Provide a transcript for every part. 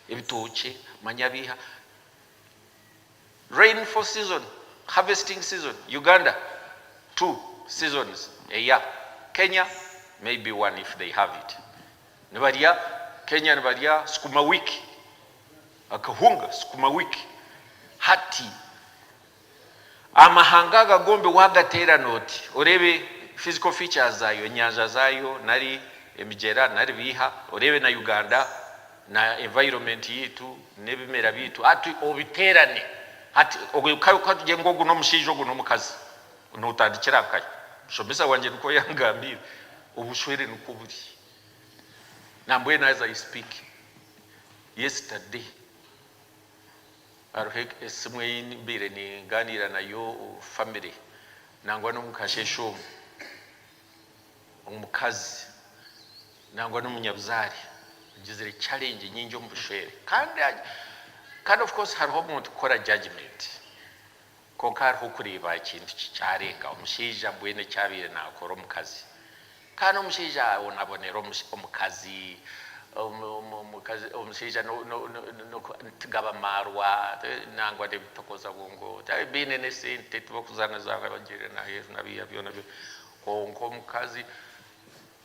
ebitookye manya biiha rain for season harvesting season Uganda two seasons a year Kenya maybe one if they have it nibarya Kenya nibarya sukuma wiki akahunga sukuma wiki hati Amahanga aga gombi wagateerana oti oreebe physical features zaayo, enyanja zaayo nari emigyera nari biiha, oreebe na Uganda na environment yaitu n'ebimera byaitu hati obiteerane hati katugire ngu ogu n'omushaija ogu n'omukazi notandikira nkahe? Mushomesa wangye nikwo yangambiire, obushwere nikwo buri nambwenu as I speak, yesterday. Hariho esimu ei mbaire ningaaniira nayo famire nangwa n'omu kasheeshe omu, omukazi nangwa n'omunyabuzaare agizire challenge nyingi omu bushwere kandi kandi of course hariho omuntu kukora judgement Kwonka hariho okureeba ekintu kikyarenga omushaija mbwenu eki abaire naakora omukazi. Kandi omushaija abonabonera omukazi, omushaija tigaba maarwa nangwa n'ebitokoza bwo ngu tibaabaire baine n'esente tibarikuzaanazaana bagiire n'aheeru na biiha byona byona. Kwonka omukazi,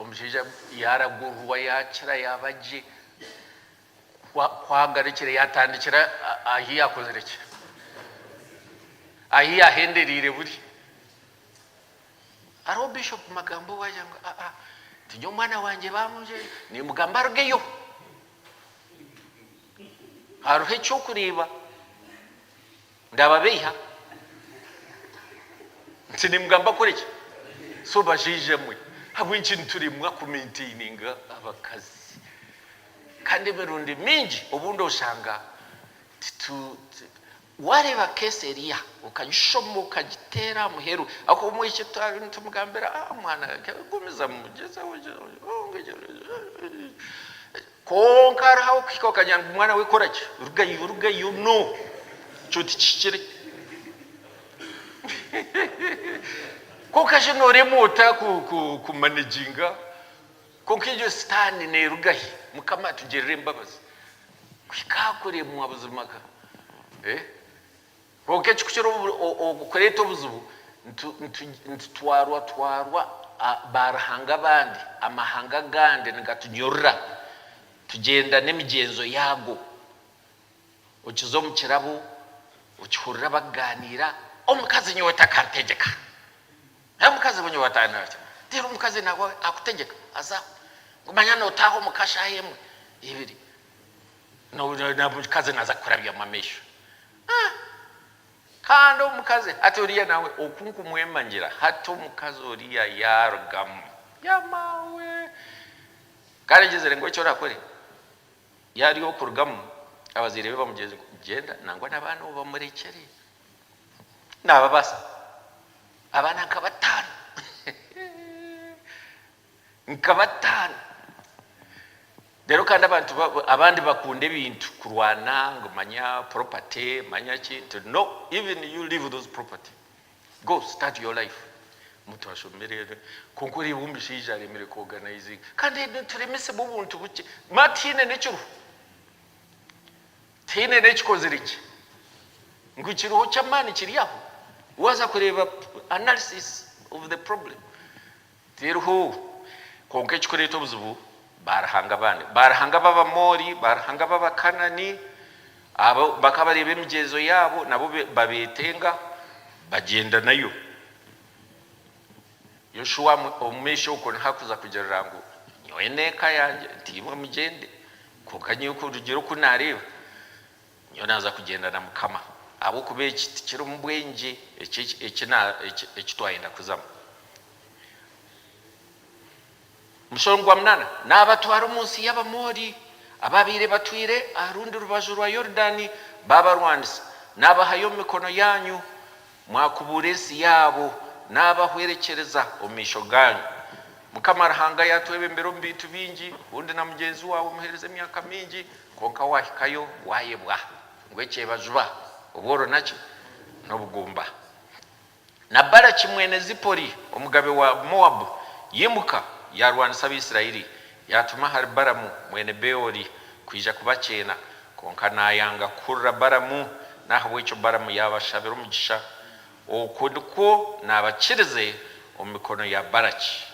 omushaija yaaragururwa yaakira yaaba gye. Ku agarukire yatandikira ahi yakozire ki? Ahi yahendereire buri? Hariho Bishop Magambo owe agira ngu aa tinye omwana wangye bamunjwire nimugamba arugeyo. Hariho ekyokureeba. Ndababeiha nti nimugamba kukoreki? So bashaija mwe, ahabw'enki nituremwa kumentaininga abakazi kandi emirundi mingi obundi oshanga titu Wareeba case eriya okagishoma okagiteera aha muheru ahakuba omwishiki twaba nitumugambira, ah mwana gumizamu gyezaho gyezaho. Kwonka hariho abakuhika bakagira ngu, Mwana we kora ki? Rugayo, rugayo! No! Ekyo tikihikire. Kwonka shi nooremwa ota kumanaginga? Kwonka egyo Sitaane neeruga hi? Mukama atugirire embabazi. Kuhika aha kuremwa buzima ka? Kwonka ekikukira okureeta obuzibu, nitutwarwatwarwa baaruhanga abandi, amahanga agandi nigatunyurura tugyenda n'emigyenzo yaago. Okiza omu kirabo okihurira bakugaaniira, Omukazi nyowe takarutegyeka. Omukazi nyowe atandetegyeka. Reero omukazi naawe akutegyeka? Haza ngu manya nootaaha omu ka shaaha emwe, ibiri, omukazi naaza kukurabyamu amaisho. Ahh Kandi omukazi hati oriya nawe oku nkumwemangira hati omukazi oriya yarugamu yamaawe Kandi agyezire ngu eki orakore yari okurugamu abazaire be bamugyeze ngu gyenda nangwa nabaana obamurekyere nababasa abaana nka bataano hehe. Nka bataano. Rero kandi abantu abandi bakunda ebintu kurwana ngu manya property manya ki nti no even you leave those property go start your life muntu ashomire kwonka oreeba omushaija aremire ku organizinga kandi nituremesibwa obuntu bukye ma tihaine nekiruho tihaine nekikozire gye ngu kiriho kyamaani kiri aho waza kureeba analysis of the problem. Tiriho. Kwonka ekirikureeta obuzibu, baaruhanga abandi, baaruhanga b'Abamoori, baaruhanga b'Abakanaani, abo bakaba bareeba emigyenzo yaabo nabo babeetenga, bagyenda nayo. Yoshua, omu maisho okwo niho arikuza kugirira ngu, Nyowe n'eka yangye, nti imwe mugyende, kwonka nyowe kurugiirira oku naareeba, Nyowe naaza kugyenda na Mukama, ahabw'okuba eki tikirimu bwengye eki eki eki twayenda kuzamu. Omushoro gwa munaana, Naabatwara omu nsi y'Abamoori, abaabaire batwire aha rundi rubaju rwa Yorudaani baabarwanisa. Naabahayo omu mikono yaanyu, mwakubuura ensi yaabo, naabahwerekyereza omu maisho gaanyu. Mukama Ruhanga yaatwebembera omu bintu bingi, bundi na mugyenzi waawe omuheerize emyaka mingi. Kwonka waahikayo waayebwa ngu ekyebaziba, obworo naki? N'obugumba. Na Baraki mwene Zipori, omugabe wa Moabu, yaimuka yaarwanisa Abaisiraeli, yaatuma ahari Baramu mwene Beori kwija kubakyeena. Kwonka naayanga kuhurira Baramu, n'ahabw'ekyo Baramu yaabashabira omugisha Okwo nikwo naabakirize omu mikono ya Baraki.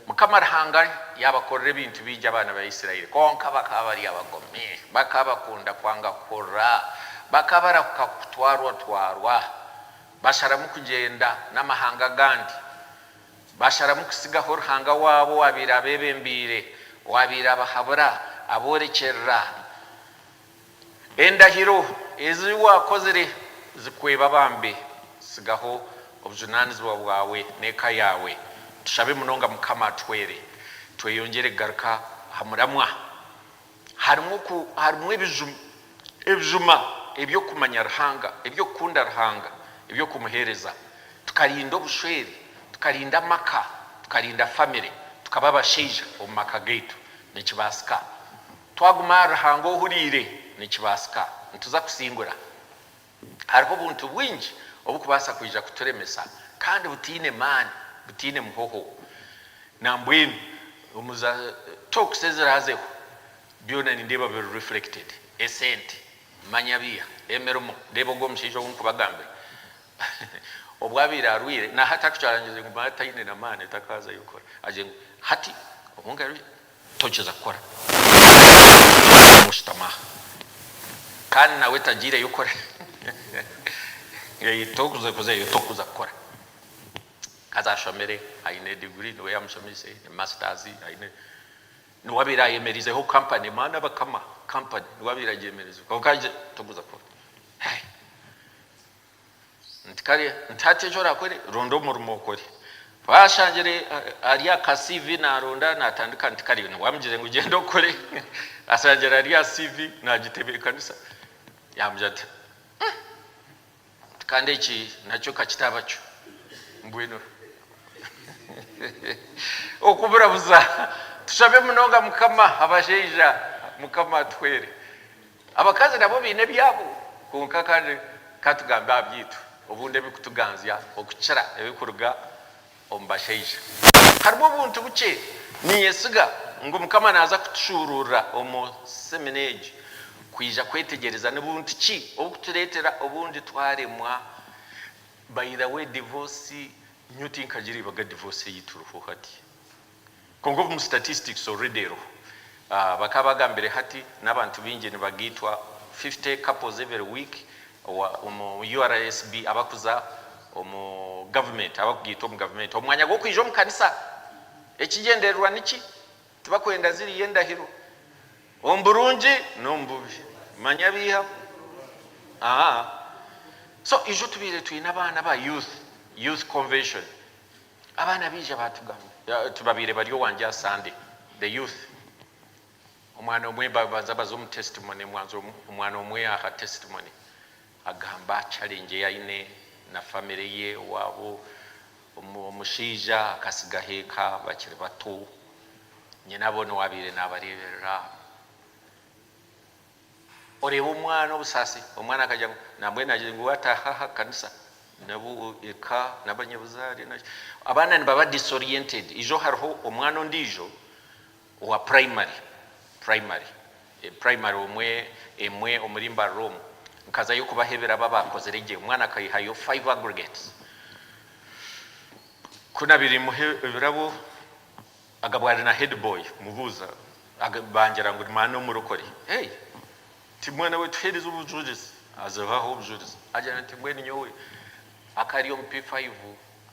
Mukama Ruhanga yaabakorera ebintu bingi abaana ba Isiraeli, kwonka bakaba bari abagomi. Bakaba bakunda kwanga kuhurira. Bakaba barahuka kutwarwatwarwa. Basharamu kugyenda n'amahanga agandi. Basharamu kutsigaho Ruhanga waabo owaabaire abebembeire, owaabaire abahabura, aboorekyerera. Endahiro ezi waakozire zikweba bambi, tsigaho obujunaanizibwa bwawe n'eka yaawe. Tushabe munonga Mukama atuhwere tweyongyere kugaruka aha muramwa. Harimu harimu ebijuma eby'okumanya Ruhanga, eby'okukunda Ruhanga, eby'okumuheereza, tukarinda obushwere, tukarinda amaka, tukarinda famire, tukaba abashaija omu maka gaitu. Nikibaasika. Twaguma ahari Ruhanga ohuriire, nikibaasika nituza kusingura. Hariho obuntu bwingi obukubaasa kwija kuturemesa kandi butaine maani, butaine muhoho. Nambwenu omu za talks eziraazeho, byona nindeeba biri reflected. Esente, manya biiha, emirimo, reeba ogwo omushaija ou nkubagambira. Obu abaire arwaire, nahati arikucharangiriza ngu manya taine na maani, takaazayo kukora. Agire ngu hati obu nkaruga, Tokiza kukora omu kushutama aha kandi nawe tagiireyo kukora. Tokuzeyo tokuza kukora. Haza ashomire aine degree niwe yamushomeise ne masters aine. Niwe abaire ayemerizeho company maani abakama company niwe abaire agyemereze kwonka tokuza kukora. Nti kare nti hati eki orakore ronda omurimo okore ku ashangire ari aha ka CV naronda natandika nti kare wamugire ngu gyenda okore ashangire ari aha CV nagitebekanisa yamugira ati nti kandi eki nakyo kakitaba kyo mbwenu okuburabuza tushabe munonga mukama abashaija mukama atuhwere. Abakazi nabo baine ebyabo kwonka kandi ka tugambe aha byaitu obundi ebirikutuganzya okukira ebirikuruga omu bashaija. Harimu obuntu bukye niinyesiga ngu Mukama naaza kutushuuruurira omu semina egi, kwija kwetegyereza ni buntu ki oburikutureetera obundi twaremwa. By the way, divorce nyowe tinkagiriibaga divorce ei turiho hati. Kwonka omu statistics already eriho bakaba bagambire hati n'abantu baingi nibagaitwa 50 couples every week omu URSB abakuza omu government abakugaitwa omu government omu mwanya gw'okwija omu kanisa. Ekigyendererwa niki? Tibakwenda ziriya endahiro omu burungi n'omu bubi manya baihamu ahaa so ijo tubaire twine abaana aba youth youth convention. Abaana baija baatugambira nti babaire bari owangye aha Sande, the youth, omwana omwe babanza baza omu testimony, omwana omwe aha testimony agamba challenge ei aine na family ye, owaabo omushaija akatsigaho eka bakiri bato, nyina boona owaabaire naabareeberera, Oreeba omwana obusaasi, omwana akagira ngu nambwenu agire ngu ataaha aha kanisa nabo eka n'abanyabuzaare naki. Abaana nibaba disoriented. Ijo hariho omwana ondiijo owa primary, primary, primary omwe emwe omuri Mbarara omu, nkazayo kubaha ebirabo abaakozire gye, omwana akaihayo five aggregates. Ku naabire nimuha ebirabo Agabwa ari na head boy mubuuza bangira ngu ni maana omurokore hey nti mwana we tuheereze obujurizi azibaho obujurizi agira nti mbwenu nyowe aka ari omu P5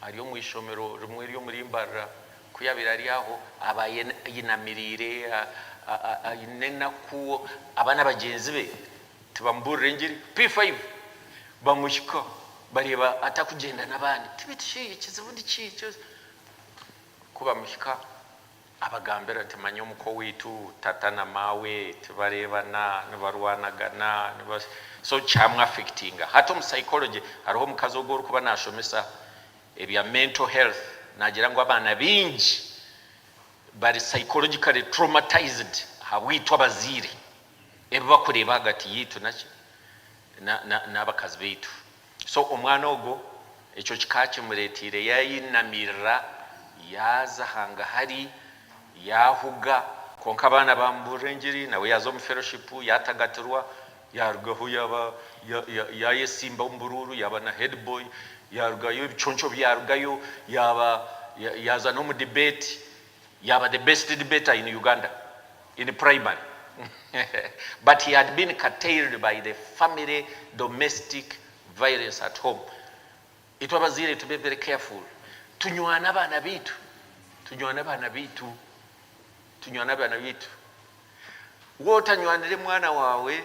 ari omu ishomero rimwe eri omuri Mbarara ku yabaire ari aho abaye ayinamiriire ayine enaku abaana bagyenzi be tibamubuurira engiri P5 bamuhika bareeba atakugyenda n'abandi tibeitu shi ekizibu niki? Ku bamuhika abagambira ati, Manya omuka owaitu, tata na maawe tibareebana, nibarwanagana, niba so kyamu affectinga. Hati omu psychology hariho omukazi ogu orikuba nashomesa ebya mental health nagira ngu abaana baingi bari psychologically traumatized ahabwaitu abazaire, ebi bakureeba ahagati yaitu naki, na, na, n'abakazi baitu. So omwana ogwo ekyo kikaakimureeteire yaayinamirira, yaaza hangahari, yaahuga. Kwonka abaana baamubuurira engiri, nawe yaaza omu feroshipu, yaatagatirwa, yaarugaho yaaba yaayesimba omu buruuru, yaaba na heediboyi, yaarugayo ebiconco byarugayo, yaaba yaaza n'omu dibeeti, Yaaba the best debater in Uganda in primary but he had been curtailed by the family domestic violence at home. Itwe abazaire tube very careful tunywane abaana baitu tunywane abaana baitu tunywane abaana baitu. Waaba otanywanire mwana waawe.